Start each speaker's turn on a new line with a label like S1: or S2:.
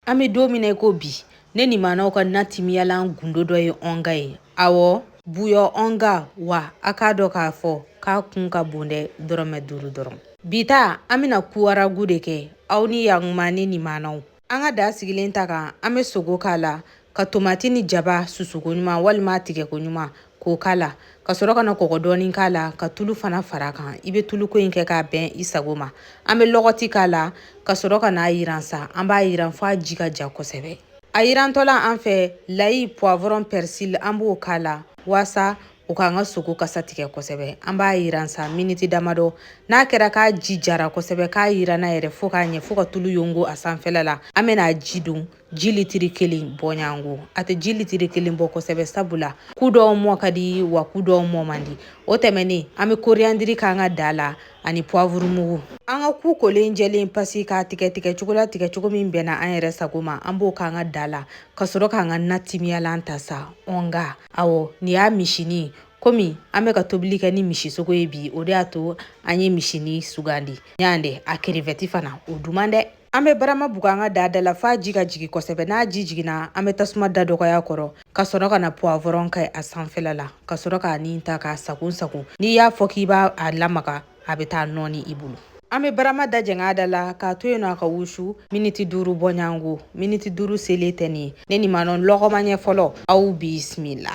S1: An bɛ don min na ko bi ne nimanaw ka natimiyalan gundo dɔ ye Onga ye awɔ buyɔn Onga wa a k'a dɔn k'a fɔ k'a kun ka bon dɛ dɔrɔmɛ duuru dɔrɔn bi an bɛna ku ragu de kɛ aw ni yaguma ni nimanaw an ka daa sigilen ta kan an bɛ sogo k'a la ka tomati ni jaba susuko ɲuman walima tigɛko ɲuman k'o k'a la ka sɔrɔ ka na kɔgɔ dɔɔni k'a la ka tulu fana fara kan i bɛ tuluko in kɛ k'a bɛn i sago ma an bɛ lɔgɔti k'a la ka sɔrɔ ka n'a yiran sa an b'a yiran f'a ji ka ja kosɛbɛ a yirantɔla an fɛ layi poivron persil an b'o k'a la waasa o k'an ka sogo kasa tigɛ kosɛbɛ an b'a yiran sa miniti damadɔ n'a kɛra k'a ji jara kosɛbɛ k'a yiranna yɛrɛ fo k'a ɲɛ fo ka tulu yongo a sanfɛla la an bɛna a ji don ji litiri kelen bɔɲango a tɛ ji litiri kelen bɔ kosɛbɛ sabu la ku dɔw mɔ ka di wa ku dɔw mɔ man di o tɛmɛnen an bɛ koriyandiri k'an ka daa la ani puwavuru mugu an ka ku kolen jɛlen pasi k'a tigɛ tigɛ cogo la tigɛ cogo min bɛnna an yɛrɛ sago ma an b'o k'an ka daa la ka sɔrɔ k'an ka natimiyalan ta sa Onga awɔ nin y'a misinin komi an bɛ ka tobili kɛ ni misisogo ye bi o de y'a to an ye misinin sugandi ɲan dɛ a kerevɛti fana o duman dɛ an bɛ barama bugu an ka daa da la f'a ji ka jigin kosɛbɛ n'a ji jiginna an bɛ tasuma da dɔgɔy'a kɔrɔ ka sɔrɔ ka na poivron kɛ a sanfɛla la ka sɔrɔ k'a ni ta k'a sagon sagon n'i y'a fɔ k'i b'a a lamaga a bɛ taa nɔɔni i bolo an bɛ barama da jɛng'a da la k'a to yen nɔ a ka wusu miniti duuru bɔɲango miniti duuru selen tɛ nin ye ne nimanaw lɔgɔma ɲɛ fɔlɔ aw bisimila